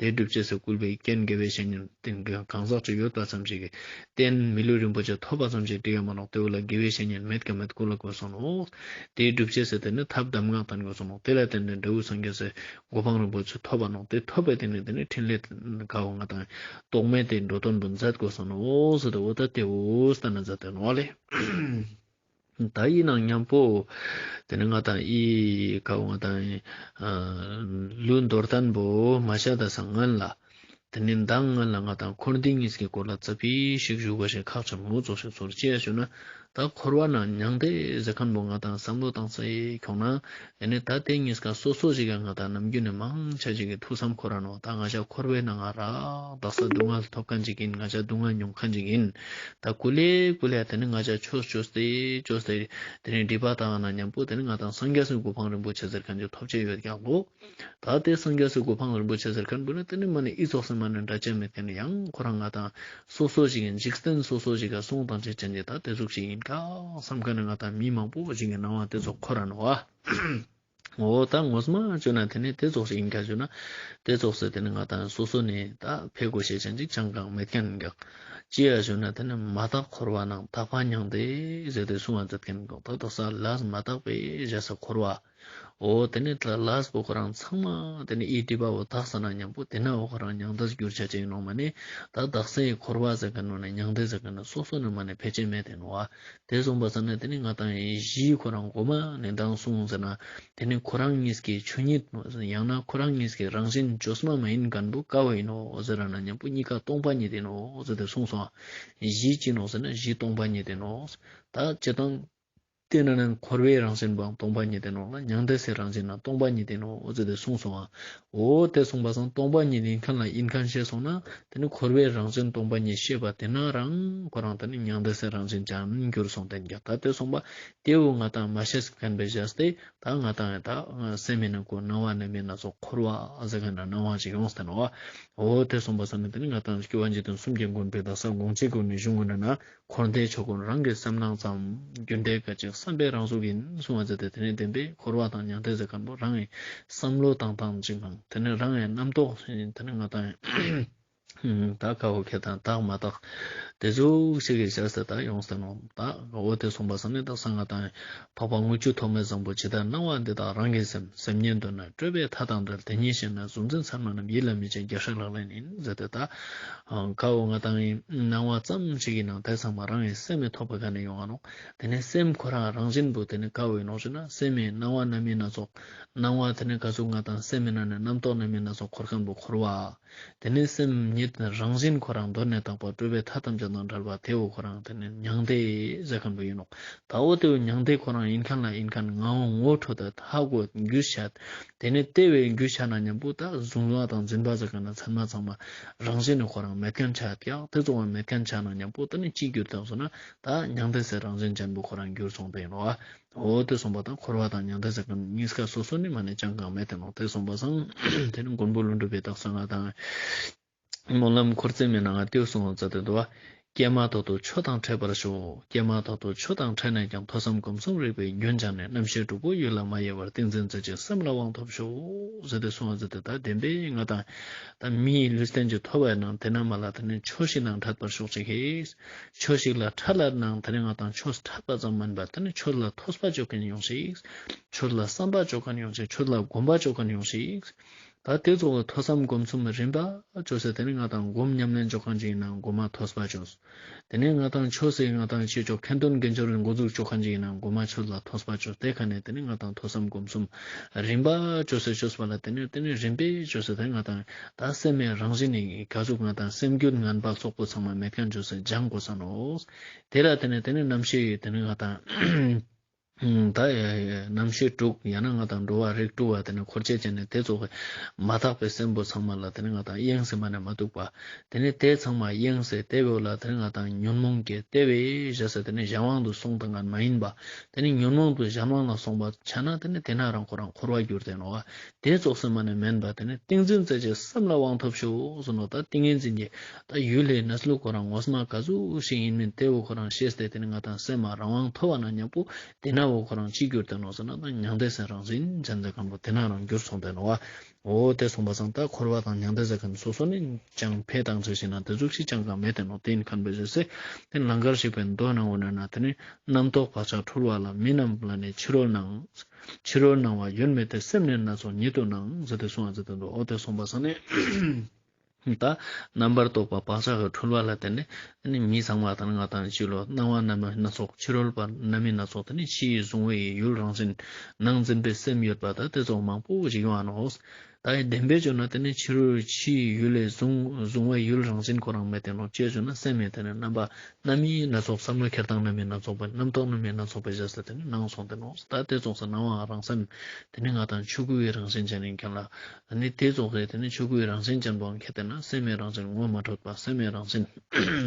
དེ་སྒྲུབ་བྱེད་ས་བསྐུལ་བའི་རྐྱེན་དགེ་བའི་བཤེས་གཉེན་བསྟེན་མཁན་གང་ཟག་ཅིག་ཡོད་པ་ཙམ་ཞིག་གིས་བསྟེན་མི་ལུས་རིན་པོ་ཆེ་ཐོབ་པ་ཙམ་ཞིག་འབྲི་ཡོད་མ་གནང་དེའུ་ལ་དགེ་བའི་བཤེས་གཉེན་མེད་ཀ་མེད་སྐུ་ལ་གོས་སོང་ནོ། དེའི་སྒྲུབ་བྱེད་ཟེར་དེ་ནི་ཐབས་གདམས་ངག་དང་གོས་སོང་ནོ་དེ་ལ་བརྟེན་ནས་འབྲས་བུ་སངས་རྒྱས་སའི་གོ་འཕང་རིན་པོ་ཆེ་ཐོབ་པ་གནང་དེ་ཐོབ་པའི་སྟེང་ནས་དེ་ནི་ཕྲིན་ལས་དགའ་བོ་ང་དང་རྟོག་མེད་དེའི་འགྲོ་དོན་དུ་མཛད་དགོས་སོང་ནོ་ཟེར་དེ་འུ་ད་དེའུ་ལྟར་ན་མཛད་དོན་ཨོ་ལེ། ད་ཡིན་ནང་སྙམ་པོ། དེ་ནས་ང་དང་ཨི་ཁ་བ་ང་དང། ལུས་འདོར་དང་པོ་མ་ཤ་དང་ཟངས་ངན་ལ། དེ་ནས་མདངས་ངན་ལ་ང་དང་འཁོར་འདི་གཉིས་ཀྱི་སྐོར་ལ་རྩ་བི་ཤིག་བཞུགས་པ་བཞིན་ཁག་ཆེན་མོ་རྫོགས་ཤིག་ཚོར་བཅས་བྱོས་ན། ད་འཁོར་བ་ན་མྱང་འདས་ཟེར་ཁམས་པོ་ང་དང་བསམ་བློ་བཏང་ཚེ་གྱོང་ན། ཡང་ནི་ད་དེ་གཉིས་ཀ་སོ་སོར་གཅིག་ཀྱང་ང་དང་ནམ་རྒྱུན་ནས་མང་ཆ་གཅིག་གི་ཐུགས་བསམ་ཁོ་རང་ནོ་ད་ང་ཅག་འཁོར་བའི་ནང་ཨ་རག་རྡག་ས་སྡུག་བསྔལ་ཐོབ་ཁ་འཇིག་གིན་ང་ཅག་སྡུག་བསྔལ་མྱོང་ཁ་འཇིག་གིན་ད་སྐུ་ལས་སྐུ་ལས་དེ་ནི་ང་ཅག་ཆོས་སུ་སྤྱོད་སྤྱོད་ཟེར་དེ་ནི་སྒྲིབ་པ་དག་ན་མཉམ་པོ་དེ་ནི་ང་དང་སངས་རྒྱས་སུ་སྒོ་འཕང་རིན་པོ་ཆེ་ཟེར་མཁན་ཅིག་ཐོབ་བྱེད་ཡོད་ཀྱང་འདུག་ད་དེ་སངས་རྒྱས་སུ་སྒོ་འཕང་རིན་པོ་ཆེ་ཟེར་མཁན་འབུ་ནི་དེ་ནི་མ་ནི་ཨི་ཚོགས་སེམས་མ་ནི་འདྲ་ཅན་མི་དེ་ནི་ཡང་ཁོ་རང་ང་དང་སོ་སོ་ཞིག་གིས་འཇིག་རྟེན་སོ་སོ་ཞིག་གི་གསུང་དང་བཅས་ཅན་དེ་དག་དེ་གཟུགས་ཤིག་ཡིན་ཀ་བསམ་དཀའ་ན་ང་དང་མི་མང་པོ་ཞིག་གི་སྣང་བ་དེ་ཚོ་ཁོ་ར་ན་བ་འོ་ད་ངོ་སྨྲ་བརྗོད་ན་དེ་ནི་དེ་གཟུགས་ཤིག་ཡིན་ཀ་བརྗོད་ན་དེ་གཟུགས་སུ་དེ་ནི་ང་དང་སོ་སོ་ནི་ད་ཕས་གོ་ཤེས་ཅན་ཅིག་ཅང་གང་མེད་མཁན་ག་ཅི་ཡ་བརྗོད་ན་དེ་ནི་མ་དག་འཁོར་བ་ནང་དག་པ་མྱང་འདས་ཟེར་དུས་གསུང་བ་མཛད་མཁན་ག་ད་དོ་ས་ལ་མ་དག་པའི་གཞལ་ས་འཁོར་བ། འོ་དེ་ནས་དྷ་ལཱས་བོད་ཁོ་རང་ཚང་མ་དེ་ནས་ཨི་ཏི་པ་བོ་དྷ་ས་ན་མཉམ་པོ་དེ་ནས་བོད་ཁོ་རང་མྱང་འདས་སུ་གྱུར་བྱ་ཅིག་ནོ་མ་ནི་ད་བདག་སེང་ཡི་འཁོར་བ་ཟེར་གི་ནོ་ནས་མྱང་འདས་ཟེར་གི་ནོ་སོ་སོ་ནས་མ་ནས་ཕལ་ཆེར་མེད་དེ་ནོ་བ་དེ་གསུངས་པ་ཙམ་ནས་དེ་ནས་ང་དང་ཡེ་ཤེས་ཁོ་རང་སྒོ་མ་ནས་འདང་གསུངས་ཟེར་ན་དེ་ནས་ཁོ་རང་གཉིས་ཀྱི་ཆོས་ཉིད་ནོ་ཟེར་ཡང་ན་ཁོ་རང་གཉིས་ཀྱི་རང་བཞིན་བཅོས་སྨྲ་མ་ཡིན་གར་འདུག་དཀའ་བ་ཡིན་ནོ་ཟེར་ར་ན་མཉམ་པོ་གཉིས་ཀ་སྟོང་པ་ཉིད་ཡིན་ནོ་ཟེར་ཏེ་གསུངས་སོ། གཞི་ཅི་ནོ་ཟེར་ན་གཞི་སྟོང་པ་ཉིད་ཡིན་ནོ། ད་ཅི་དང། དེ་ན་ནི་འཁོར་བའི་རང་བཞིན་པའང་སྟོང་པ་ཉིད་ལྡན་ནོ། མྱང་འདས་སའི་རང་བཞིན་ཡང་སྟོང་པ་ཉིད་ལྡན་ནོ་ཟེར་ཏེ་གསུངས་སོ། འོ་དེ་གསུངས་པ་སང་སྟོང་པ་ཉིད་ཡིན་མཁན་ལ་ཡིན་མཁན་ཤེས་སོང་ན་དེ་ནི་འཁོར་བའི་རང་བཞིན་སྟོང་པ་ཉིད་ཤེས་པ་དེ་ན་རང་ཁོ་རང་དེ་ནི་མྱང་འདས་སའི་རང་བཞིན་ཅན་གྱུར་སོང་བསྟན་གྱི་ད་དེ་གསུངས་པ་དེ་འོ་ང་དང་མ་ཤེས་མཁན་པའི་གཞས་དེ་ད་ང་དང་ད་སེམས་མེད་ན་གོ་སྣང་བ་ནི་མེད་ན་སོགས་འཁོར་བ་ཟེར་མཁན་ན་སྣང་བ་ཞིག་ཡོངས་བསྟན་ནོ། འོ་དེ་གསུངས་པ་སང་ནི་དེ་ནི་ང་དང་སྐྱེ་བ་འཇིག་རྟེན་གསུམ་གྱི་མགོན་པོའི་བརྡ་ས་དགོངས་ཆེན་གྱི་ངེས་གཞུང་ངོས་ན་ན་འཁོར་འདས་ཕྱོགས་ཀུན་རང་གི་སེམས་སྣང་ཙམ། རྒྱུ་འབྲས་སྐད་ཅིག་བསམ་པའི་རང་གཟུགས་ཡིན། གསུང་བ་ཇི་སྟེ་དེ་ནི་བདེན་པས་འཁོར་བ་དང་མྱང་འདས་ཟེར་ཁ་ནོ་རང་ངའི་བསམ་བློ་དང་དང་གཅིག་ནང་དེ་ནི་རང་ངའི་རྣམ་རྟོག་ཡིན་དེ་ནི་ང་དང་དག་ཁ་བ་ཁྱེད་དང་དག་མ་དག་དེ་གཟུགས་གཅིག་གིས་བཞག་ཟེར་དག་ཡོང་ཟེར་ནོ་དག་གོ་བོ་དེ་གསུངས་པ་བསམ་ནས་དག་ས་ང་དང་འཕགས་པ་དངུལ་ཆུ་ཐོགས་མེད་བཟང་པོ་ཇི་ལྟར་སྣང་བ་འདི་དག་རང་གི་སེམས་སེམས་ཉིད་འདོད་ན་སྤྲོས་པའི་མཐའ་དང་བྲལ་དེ་ཉིད་ཤེས་ན་གཟུང་འཛིན་མཚན་མ་རྣམས་ཡིད་ལ་མི་བྱེད་རྒྱ་ཧྲིག་ལྷག་ལེན་ཡིན་ཟེར་དེ་ལྟ། ཁའོ་ང་དང་ཡི་སྣང་བ་ཙམ་ཞིག་གི་ནང་དེ་ཚང་མ་རང་ཡི་སེམས་མི་ཐོགས་པ་ག་ནས་ཡོང་ཨང། དེ་ནི་སེམས་ཁོ་རང་རང་བཞིན་དུ་དེ་ནི་ཁའོའི་ནང་ཞུགས་ན་སེམས་མེད་སྣང་བ་རྣམ་སྨིན་སྣ་ཚོགས། སྣང་བ་དེ་ནི་ག་ཚོད་ང་དང་སེམས་མེད་ན་ནི་རྣམ་རྟོག་རྣམ་སྨིན་སྣ་ཚོགས་འཁོར་ཁམས་པོ་འཁོར་བ། དེ་ནས་སེམས་ཉིད་རང་བཞིན་ཁོ་རང་གདོད་ནས་དག་པ་སྤྲུལ་པའི་མཐའ་ཐམས་ཅད་དང་བྲལ་བ་དེའོ་ཁོ་རང་དེ་ནི་མྱང་འདས་གཞལ་མཁན་པོ་ཡིན་ནོ། དྭོགས་དེའོ་མྱང་འདས་ཁོ་རང་ཡིན་མཁན་ལ་ཡིན་མཁན་ངའོ་ངོ་འཕྲོད་དེ་དག་གོ་རྒྱུ་བཤད་དེ། དེ་ནི་ལྟེ་བའི་རྒྱུ་བཤད་ན་སྙམ་པོ་ད་གཟུང་བ་དང་འཛིན་པ་གཞལ་མཁན་ན་མཚན་མ་ཚང་མ་རང་བཞིན་ནི་ཁོ་རང་མེད་མཁན་ཆགས་ཀྱང་དེ་གཙོ་བོ་མེད་མཁན་ཆགས་ན་སྙམ་པོ་དེ་ནི་ཅིའི་རྒྱུ་དེ་གཟུང་ན་ད་མྱང་འདས་སའི་རང་བཞིན་ཅན་པོ་ཁོ་རང་རྒྱུར་མཚུངས་པ་ཡིན་ནོ། འོ་དེ་སོང་པ་དང་འཁོར་བ་དང་མྱང་འདས་ཟེར་གང་གཉིས་ཀ་སོ་སོ་ནི་མ་ནས་ཅང་གང་མེད་དེ་ནོ་དེ་སོང་པ་སང་དེ་ནི་མགོན་པོ་ཀླུ་འགྲུབ་པའི་རྟགས་སུ་ང་དང། སྨོན་ལམ་འཁོར་བརྩེགས་མེད་ན་ང་ལྟེའུ་སོང་བར་འཛག་དེ་འདུག་ཀྱེ་མ་ཐོག་ཏུ་ཆོས་དང་ཕྲད་པར་ཤོག་ཀྱེ་མ་ཐོག་ཏུ་ཆོས་དང་ཕྲད་ནས་ཀྱང་ཐོས་བསམ་སྒོམ་གསུམ་རིག་པའི་རྒྱུན་སྦྱངས་ནས་རྣམ་ཤེས་དྲུག་པོ་ཡུལ་ལ་མ་ཡལ་བར་ཏིང་འཛིན་མཛད་ཅིང་སེམས་ལ་དབང་ཐོབ་ཤོག་ཟེར་ཏེ་སོང་བར་འཛག་དེ་དག་བདེན་པས་ང་དང། དང་མི་ཡི་ལུས་རྟེན་གྱི་ཐོ་བས་ནང་དེ་ན་མ་ལ་དེ་ནས་ཆོས་ཤིག་ནང་འཁྲབ་པར་ཤོག་ཅིག་ཧེས། ཕྱོགས་ཤིག་ལ་ཁྲ་ལར་སྣང་དེར་ཡང་དང་ཕྱོགས་སུ་ཁྲ་པ་ཙམ་མིན་པར་དེ་ནི་ཕྱོགས་ལ་ཐོས་པ་འཇོག་གིན་ཡོང་ཞིག། ཕྱོགས་ལ་བསམ་པ་འཇོག་གིན་ཡོང་ཞིག་ཕྱོགས་ལ་སྒོམ་པ་འཇོག་གིན་ཡོང་ཞིག། ད་དེ་རྫོགས་ལ་ཐོས་བསམ་སྒོམ་གསུམ་རིམ་པ་བྱོས་ཚེ་དེ་ནི་ང་དང་སྒོམ་ཉམས་ལེན་འཇོག་གིན་ཅིག་ཡིན་ན་སྒོམ་མ་ཐོས་པ་བྱོས། དེ་ནས་ང་དང་ཆོས་སྲིད་ང་དང་ཆོས་ཕྱོགས་ཁེ་འདོན་འགན་འཆོར་གྱི་འགོ་འཛུགས་འཇོག་གིན་ཅིག་ཡིན་ན་སྒོམ་མ་ཆོས་ལ་ཐོས་པ་བྱོས་ཏེ་ག་ནས་དེ་ནི་ང་དང་ཐོས་བསམ་སྒོམ་གསུམ་རིམ་པ་བྱོས་ཚེ་ཆོས་པ་ལ་དེ་ནས་དེ་ནི་རིམ་པས་བྱོས་ཚེ་དེ་ང་དང། ད་སེམས་མེད་རང་བཞིན་ནི་ག་ཚོད་ང་དང་སེམས་རྒྱུད་ངན་པ་སོག་པོ་ཚང་མ་མེད་མཁན་ཇོ་སྲས་སྦྱང་དགོས་ས་ནོ། དེ་ལ་དེ་ནས་དེ་ནི་རྣམ་ཤེས་ཡོད་དེ་ནི་ང་དང། ད་རྣམ་ཤེས་དཀྲུགས་ཡང་ན་ང་དང་འགྲོ་བ་རིགས་དཀྲུགས་བ་དེ་ནི་འཁོར་བཅས་ཅན་ནི་དེ་རྫོགས་པའི་མ་དག་པའི་སེམས་པོ་ཚང་མ་ལ་དེ་ནི་ང་དང་གཡེང་ཟེར་མ་ནས་མ་སྡུག་པ་དེ་ནི་དེ་ཚང་མ་གཡེང་ཟེར་དེ་བོད་ལ་དེ་ནི་ང་དང་ཉོན་མོངས་སྐྱེ་དེ་བས་གཞན་ཟེར་དེ་ནི་གཞན་དབང་དུ་སོང་དང་ངན་མ་ཡིན་པ་དེ་ནི་ཉོན་མོངས་དུ་གཞན་དབང་ལ་སོང་པ་ཆགས་ན་དེ་ནི་དེ་ན་རང་ཁོ་རང་འཁོར་བར་འགྱུར་དེ་ནོ། དེ་རྫོགས་སེམས་མ་ནི་མེན་པ་དེ་ནི་ཏིང་འཛིན་རྩེ་གཅིག་སེམས་ལ་དབང་ཐོབ་ཤོག་ཟུར་ནོ་ད་ཏིང་ངེ་འཛིན་གྱིས་ད་ཡུལ་ལྷའི་གནས་སུ་ལུག་གོ་རང་ངོ་སྨྲ་ག་ཟུག་ཞིག་ཡིན་མིན་དེ་འོ་གོ་རང་ཤེས་ཏེ་དེ་ནི་ང་དང་སེམས་མ་རང་དབང་ཐོབ་བ་ན་སྙམ་པོ་དེས་ན་འོ་གོ་རང་ཅིས་གྱུར་ཏེ་ནོ་ཟེར་ན་ད་མྱང་འདས་སེམས་རང་ཟིན་བྱ་འདས་གང་པོ་དེ་ན་རང་གྱུར་སོང་སྟེ་ནོ་བ་འོ་དེ་སོང་བ་སང་ད་འཁོར་བ་དང་མྱང་འདས་ཟེར་མཁན་དེ་སོ་སོ་ནས་ཀྱང་འཕེལ་དང་ཚུལ་ཤེས་ན་དེ་གཟུགས་ཤིག་ཅང་གང་མེད་དེ་ནོ་དེ་ཡིན་ཁར་འབད་བྱེད་ཚེ་དེ་ལང་ཀར་ཞིག་པའི་མདོ་སྣང་བ་ནོན་ན་དེ་ནི་རྣམ་རྟོག་བག་ཆགས་འཁྲུལ་བ་ལ་མི་རྣམས་ལ་ནི་ཕྱི་རོལ་ནང་ཕྱི་རོལ་སྣང་བ་ཡོད་མེད་དེ་སེམས་ནི་སྣ་ཚོགས་ཉིད་དུ་སྣང་ཟིལ་ཏེ་སོང་བ་ཟིལ་ཏེ་འདུག་འོ་དེ་སོང་བ་སོང་ནས་ད་རྣམ་པར་རྟོག་པ་བག་ཆགས་ཀྱི་འཁྲུལ་བ་ལ་བརྟེན་ནས་མི་ཚང་བ་དང་ང་དང་གཅིག་ལོ་སྣང་བ་རྣམ་སྨིན་སྣ་ཚོགས་ཕྱི་རོལ་པ་རྣམ་སྨིན་སྣ་ཚོགས་དེ་ནི་ཕྱིའི་གཟུང་བ་ཡི་ཡུལ་རང་བཞིན་ནང་འཛིན་པའི་སེམས་ཡོད་པ་དང་དེ་ཚོགས་མང་པོ་འཇིག་ཡོང་བ་ནོ། བདག་གིས་བདེན་པས་བརྗོད་ན་དེ་ནི་ཕྱི་རོལ་ཕྱིའི་ཡུལ་ལས་གཟུང་བའི་ཡུལ་རང་བཞིན་གོ་རང་མེད་བསྟན་ནོ་ཅེས་བརྗོད་ན་སེམས་མེད་དེ་ནི་རྣམ་པ་རྣམ་དབྱེའི་སྣ་ཚོགས་སམ་ནོར་ཁྱེར་དང་རྣམ་དབྱེ་སྣ་ཚོགས་པའི་རྣམ་རྟོག་རྣམ་དབྱེ་སྣ་ཚོགས་པའི་གཞི་ས་དེ་ནི་སྣང་སོང་བསྟན་ནོ་ད་ལྟའི་རྫོགས་ས་སྣང་བའང་རང་སེམས་དེ་ནི་ང་དང་ཆོས་སྐུ་བའི་རང་བཞིན་ཅན་ནི་མཁྱེན་ལ། ནི་དེ་རྫོགས་སའི་དེ་ནི་ཆོས་སྐུ་བའི་རང་བཞིན་ཅན་པོའང་མཁྱེན་བསྟན་ན་སེམས་མེད་རང་བཞིན་ངོ་མ་འཕྲོད་པ་སེམས་མེད་རང་བཞིན་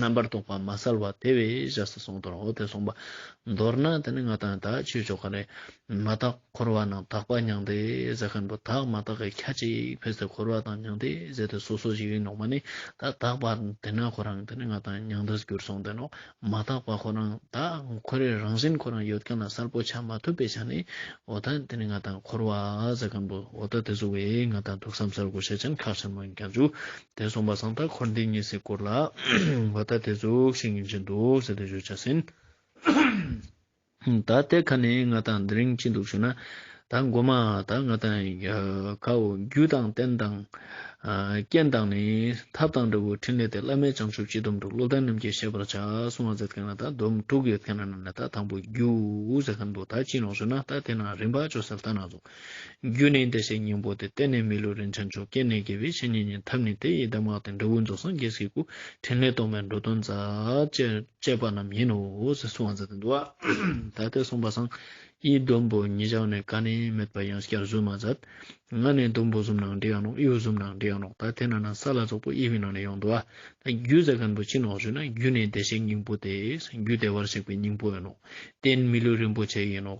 རྣམ་པར་རྟོག་པ་མ་བསལ་བ་དེ་བས་གཞི་ས་གསུངས་དོན་འོ་དེ་གསུངས་པ་མདོར་ན་དེ་ནི་ང་དང་ད་ཆོས་ཕྱོགས་ག་རེ་མ་བརྟགས། འཁོར་བ་རྣམས་དག་པ་མྱང་འདས་ཟད་མཁན་པོ་དག་མ་དག་གི་ཁྱ་ཅིག་ཕེབས་སའི་འཁོར་བ་དང་མྱང་འདས་ཟད་དེ་སོ་སོ་ཞིག་ཡིན་ནོ་མ་ནི་ད་དག་པ་དེ་ན་ཁོ་རང་དེ་ནི་ང་དང་མྱང་འདས་གྱུར་སོང་དེ་ནོ་མ་དག་པ་ཁོ་རང་ད་ཁོ་རའི་རང་བཞིན་ཁོ་རང་ཡོད་མཁན་ལ་གསལ་པོ་ཆགས་མ་ཐུབ་པའི་ཆ་ནས་འོ་ད་དེ་ནི་ང་དང་འཁོར་བ་ཟད་མཁན་པོ་འོ་ད་དེ་སོ་བས་ང་དང་ཐུགས་བསམ་གསལ་གོ་ཤེས་ཅན་ཁག་ཆེན་མོ་ཡིན་ཀྱང་འཇུག་དེ་གསུངས་པ་སང་ད་འཁོར་འདི་གཉིས་སའི་སྐོར་ལ་འོ་ད་དེ་གཟུགས་ཤིག་ཡིན་གྱིན་འདུག་ཟེར་དུ་བཞུད་བྱ་ཟིན། ད་ལྟའི་ཁ་ནས་ང་དང་འདི་རིང་ཅི་འདུག་ཞུ་ན། ད་མགོ་མ་ད་ང་དང་ཁ་འོ་རྒྱུ་དང་རྟེན་དང། རྐྱེན་དང་ནི་ཐབས་དང་འདྲ་བོའི་ཕྲིན་ལས་དེ་བླ་མའི་བྱང་ཆུབ་སྤྱི་སྡོམ་དུ་བློ་ལྡན་རྣམས་ཀྱིས་ཤེས་པར་བྱ་གསུང་བ་མཛད་མཁན་ལ་ད་སྡོམ་དྲུག་ཡོད་མཁན་རྣམས་ནས་ད་དང་པོ་རྒྱུ་ཟེར་མཁན་འདུག་ད་ཅི་ཡིན་རུང་ཞུ་ན་ད་དེ་ན་རིམ་པ་བཅོ་བསལ་ལྟ་ན་རྫོགས། རྒྱུ་ནི་བདེ་གཤེགས་སྙིང་པོ་སྟེ་གཏན་ནས་མི་བསླུ་རིན་ཆེན་མཆོག་སྐྱེ་གནས་རྒྱལ་བའི་བཤེས་གཉེན་ཉིད་ཐབས་ནི་དེ་ཡི་གདམས་ངག་སྟེ་འབྲས་བུ་རྫོགས་སངས་རྒྱས་སའི་སྐུ་ཕྲིན་ལས་སྟོང་པའི་འགྲོ་དོན་རྩ་བཅད་པ་རྣམས་ཡིན་ནོ་ཞེས་སུ་བ་ཛ་དན་དུ་བ་ད་ལྟའི་གསུངས་པ་སངས་ཡི་ཟླུམ་པོ་ཉིད་བཞག་ནས་ཀ་ནས་མེད་པ་ཡང་སྐྱར་གཟུགས་མ་ཛདང་ང་ནས་ཟླུམ་པོ་གཟུམ་ནང་འདྲེ་ཡང་རྣོག་གཡུ་གཟུམ་ནང་འདྲེ་ཡང་རྣོག་ད་དེ་ན་ན་ས་ལ་རྫོགས་པོ་གཡས་པའི་ནང་ནས་ཡང་འདུ་བ་ད་རྒྱུ་ཛ་གན་པོ་ཆེ་ནོག་ཞུས་ན་རྒྱུ་ནི་བདེ་གཤེགས་སྙིང་པོ་སྟེ་རྒྱུ་བདེ་བར་གཤེགས་པའི་སྙིང་པོ་ཡིན་ནོ་གཏན་མི་བསླུ་རིན་པོ་ཆེ་ཡིན་ནོ།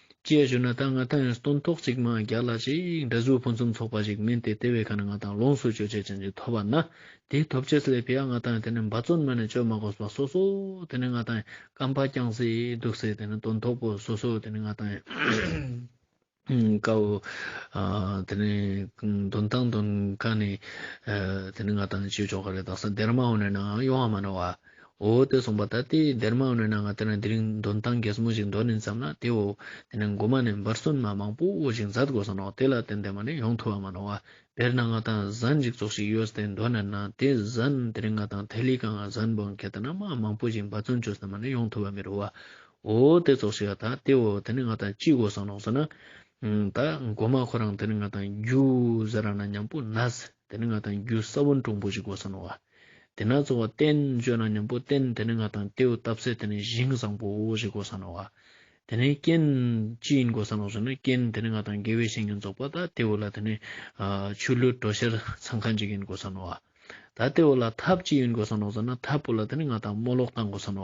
ཅེས་ཞུས་ན་ད་ང་ད་ཡང་སྟོན་ཐོག་གཅིག་མ་རྒྱག་ལ་ཅིག་འདྲ་གཟུགས་ཕུན་སུམ་ཚོགས་པ་ཞིག་མིན་ཏེ་དེ་བས་ཁ་ན་ང་ད་ལོངས་སུ་སྤྱོད་བྱེད་ཅན་ཅིག་ཐོབ་པ་ན་དེའི་ཐོབ་བྱེད་ལས་ཕི་ཨ་ང་ད་ཡང་དེ་ནས་འབའ་བརྩོན་མ་ནས་བཅོས་མ་གོ་བ་སོ་སོ་དེ་ནས་ང་ད་ཡང་སྐམ་པ་རྐྱང་སེ་སྡུག་སེ་དེ་ནས་སྟོན་ཐོག་པོ་སོ་སོ་དེ་ནས་ང་ད་ཡང་དཀའ་བོ་དེ་ནས་འདོན་དང་འདོན་དཀའ་ནས་དེ་ནས་ང་ད་ཡང་སྤྱོད་ཆོག་ག་རེ་དང་ས་དེར་མ་འོངས་ནས་ནའང་ཡོང་བ་མ་རེད་བ། འོ་དེ་སོང་པ་ད་ལྟའི་སྡེར་མ་བསྣོལ་ན་ང་དེ་ན་དེ་རིང་འདོན་སྟངས་གེ་མོ་ཞིག་འདོན་ནས་འཛམ་ན་དེ་འོ་དེ་ནས་འགོ་མ་ནས་འབར་སོན་མ་མང་པོ་འོ་ཞིག་འཛར་དགོས་སོ་ནོ་དེ་ལ་བརྟེན་དེ་མ་ནས་ཡོང་ཐུབ་བ་མ་ནོ་བདེར་ན་ང་དང་གཟའ་འཇིག་ཚོགས་ཞིག་ཡོད་དེ་འདོན་ནས་ན་དེ་གཟའ་ན་དེ་རིང་ང་དང་ཐེ་ལི་ཀང་གཟའ་ན་འབོན་གེ་དེ་ན་མ་མང་པོ་ཞིག་འབར་བརྩོན་བྱོས་སེ་མ་ནས་ཡོང་ཐུབ་བ་མི་རུ་བ་འོ་དེ་ཚོགས་ཞིག་ཨ་ད་དེ་འོ་དེ་ནས་ང་དང་ཅི་དགོས་སོ་ནོ་ཟེར་ན་ད་འགོ་མ་ཁོ་རང་དེ་ནས་ང་དང་རྒྱུ་གཟའ་ར་ན་མྱང་པོ་ན་ཟེར། དེ་ནི་ང་དང་རྒྱུ་ས་བོན་གྲུང་པོ་ཞིག་གོ་ས་ནོ། དེས་ན་རྩོལ་བ་བརྟན་བཅོས་ན་སྙོམས་པོ་བརྟན་དེ་ནི་ང་དང་རྟེའུ་བཏབ་ཚད་དེ་ནི་བཞིན་བཟང་པོ་ཞིག་གོ་ས་ནོ། དེ་ནི་རྐྱེན་ཅི་ཡིན་གོ་ས་ནོ་ཟེར་ན་རྐྱེན་དེ་ནི་ང་དང་དགེ་བའི་བཤེས་གཉེན་རྫོགས་པ་དང་རྟེའུ་ལ་དེ་ནི་ཆུ་ལུད་གྲོ་ཤེར་ཚང་ཁ་འཇིག་ཡིན་གོ་ས་ནོ། ད་རྟེའུ་ལ་ཐབས་ཅི་ཡིན་གོ་ས་ནོ་ཟེར་ན་ཐབས་པོ་ལ་དེ་ནི་ང་དང་རྨོ་ལོག་དང་གོ་ས་ནོ།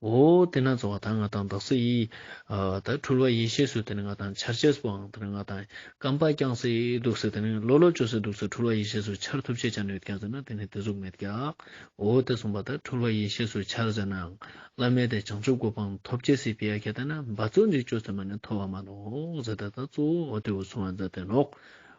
འོ་དེ་ན་རྩ་བ་དང་ང་དང་བདག་སྲིད་ཡིད། དེ་འཁྲུལ་བ་ཡེ་ཤེས་སུ་དེ་ནི་ང་དང་འཆར་བྱེད་སྤང་དེ་ནི་ང་དང་སྐམ་པ་བརྐྱང་སྲིད་སྡུག་སྲིད་དེ་ནི་ལོ་ལོ་བཅོལ་སྲིད་སྡུག་སྲིད་འཁྲུལ་བ་ཡེ་ཤེས་སུ་འཆར་ཐུབ་བྱེད་བྱ་ནུས་ཀྱང་ཟེར་ན་དེ་ནི་དེ་གཟུགས་མེད་ཀྱང། འོ་དེ་གསུངས་པ་དང་འཁྲུལ་བ་ཡེ་ཤེས་སུ་འཆར་ཟེར་ནའང་བླ་མེད་དེ་བྱང་ཆུབ་སྒོ་སྤང་ཐོབ་བྱེད་སྲིད་པས་ཁྱེད་ལྟ་ན་འབའ་ཚུལ་འཇིག་ཆོས་ཚད་མ་ནས་མཐོ་བ་མ་ནོ་ཟེར་ད་ལྟ་གཙོ་བོ་འོ་དེ་འོད་སྲུང་བ་མཛད་དེ་ལོག